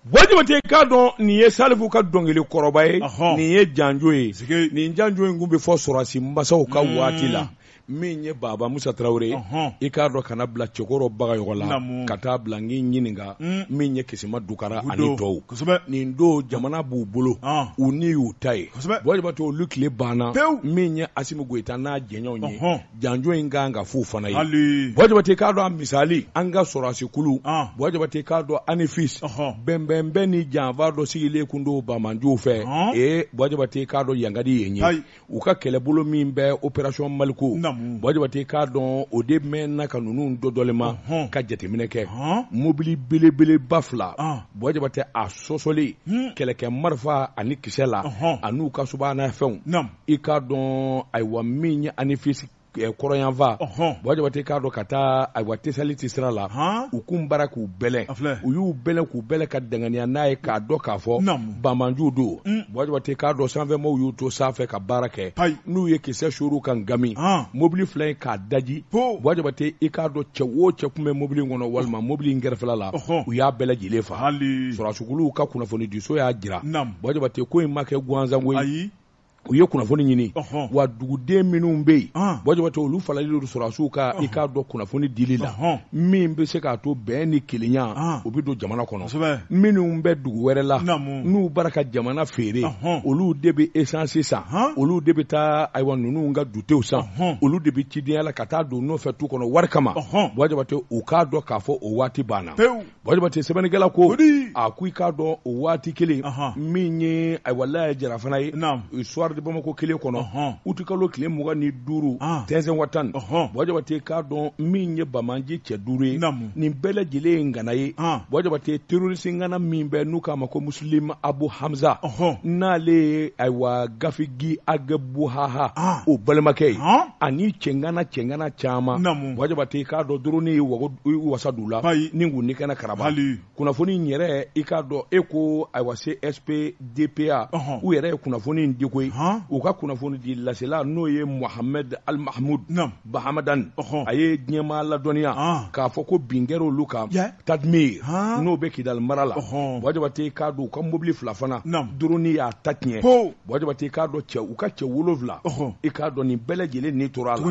Buwa Jabate i k'a dɔn nin ye Salifu ka dɔnkili kɔrɔba ye, ɔhɔn, nin ye janjo ye, sike, nin janjo in kun bɛ fɔ sɔrɔsi masaw ka waati la, min ye Baba Musa Tarawele ye, ɔhɔn, i k'a dɔn ka na bila Cɛkɔrɔ Bagayɔgɔ la, naamu, ka taa bila n k'i ɲininka, un, min ye Kisima Dukara ani Gudo, tɔw, kosɛbɛ, nin don jamana b'u bolo, an, u ni y'u ta ye, kosɛbɛ, Buwa Jabate olu tile banna, pewu, min ye Asimi Goyita n'a jɛɲɔɔnw ye, ɔnhɔn. janjo in kan ka f'u fana ye haali Buwa Jabate k'a dɔn a misali an ka sɔrɔsi kulu An. Buwa Jabate k'a dɔn Anefis Ɔhɔn. bɛnbɛnbɛn ni janfa dɔ sigilen kun don bamanjuw fɛ Ɔn. ee Buwa Jabate k'a dɔn yankadi yen ye Ayi. u ka kɛlɛbolo min bɛ operasɔn maliko Namu. Buwa Jabate k'a dɔn o de mɛnna ka ninnu dɔdɔlema Ɔhɔn. ka jateminɛ kɛ Ɔn. mobili belebeleba fila An. Buwa Jabate a sɔsɔlen Hmm. kɛlɛkɛ marifa ani kisɛ la Ɔhɔn. an'u ka subahana fɛnw Namu. i k'a dɔn ayiwa min ye Anefisi eh, kɔrɔnyanfan Buwa Jabate k'a dɔn ka taa ayiwa Tesaliti sira la u kun bara k'u bɛlɛ u y'u bɛlɛ k'u bɛlɛ ka danganiya n'a ye k'a dɔn k'a fɔ banmanju don mm. Buwa Jabate k'a dɔn sanfɛmɔgɔw y'u to sanfɛ ka baara kɛ n'u ye kisɛ suuru ka ngami mobili fila in k'a daji Buwa Jabate i k'a dɔn cɛ o cɛ kun bɛ mobili in kɔnɔ walima mobili in kɛrɛfɛla la u y'a bɛɛ lajɛlen fa sɔrɔsukuluw ka kunnafoni diso y'a jira Buwa Jabate ko in ma kɛ gansanko ye u ye kunnafoni ɲini wa duguden minnu bɛ yen Buwa Jabate olu faralen don sɔrɔdasiw kan i k'a dɔn kunnafoni dili la min bɛ se k'a to bɛn ni kelenya u bɛ don jamana kɔnɔ minnu bɛ dugu wɛrɛ la n'u bara ka jamana feere olu de bɛ esansi san olu de bɛ taa ayiwa ninnu ka dutew san olu de bɛ cidenya la ka taa don nɔfɛ tu kɔnɔ wari kama Buwa Jabate u k'a dɔn k'a fɔ o waati banna Buwa Jabate sɛbɛnnikɛla ko a ko i k'a dɔn o waati kelen min ye ayiwa Laya Jara fana ye Soir de Bamako kelen kɔnɔ uti kalo tile mugan ni duuru Tinzawatan Buwa Jabate k'a dɔn min ye bamanju cɛ duuru ye nin bɛɛ lajɛlen ye ngana ye Buwa Jabate terorisi ngana min bɛ n'u k'a ma ko Muslim Abu Hamza n'ale ye ayiwa gafigi a gabu buhaha ah. o balimakɛ ye ah. ani cɛngana cɛngana caman Buwa Jabate k'a dɔn dorɔni ye wasa d'u la ni kun ni kana karaba kunnafoni yɛrɛ i k'a dɔn e ko ayiwa CSP DPA u yɛrɛ ye kunnafoni in di koyi u ka kunnafoni di lasela n'o ye Mohamed Almahmoud Bahamadan a ye diɲɛmaa ladɔnniya ah. k'a fɔ ko bin kɛra olu kan tadimi n'o bɛ kidali mara la Buwa Jabate k'a dɔn u ka mobili fila fana dorɔni y'a ta tiɲɛ Buwa Jabate i k'a dɔn cɛ u ka cɛ wolowula i k'a dɔn nin bɛɛ lajɛlen ni tora a la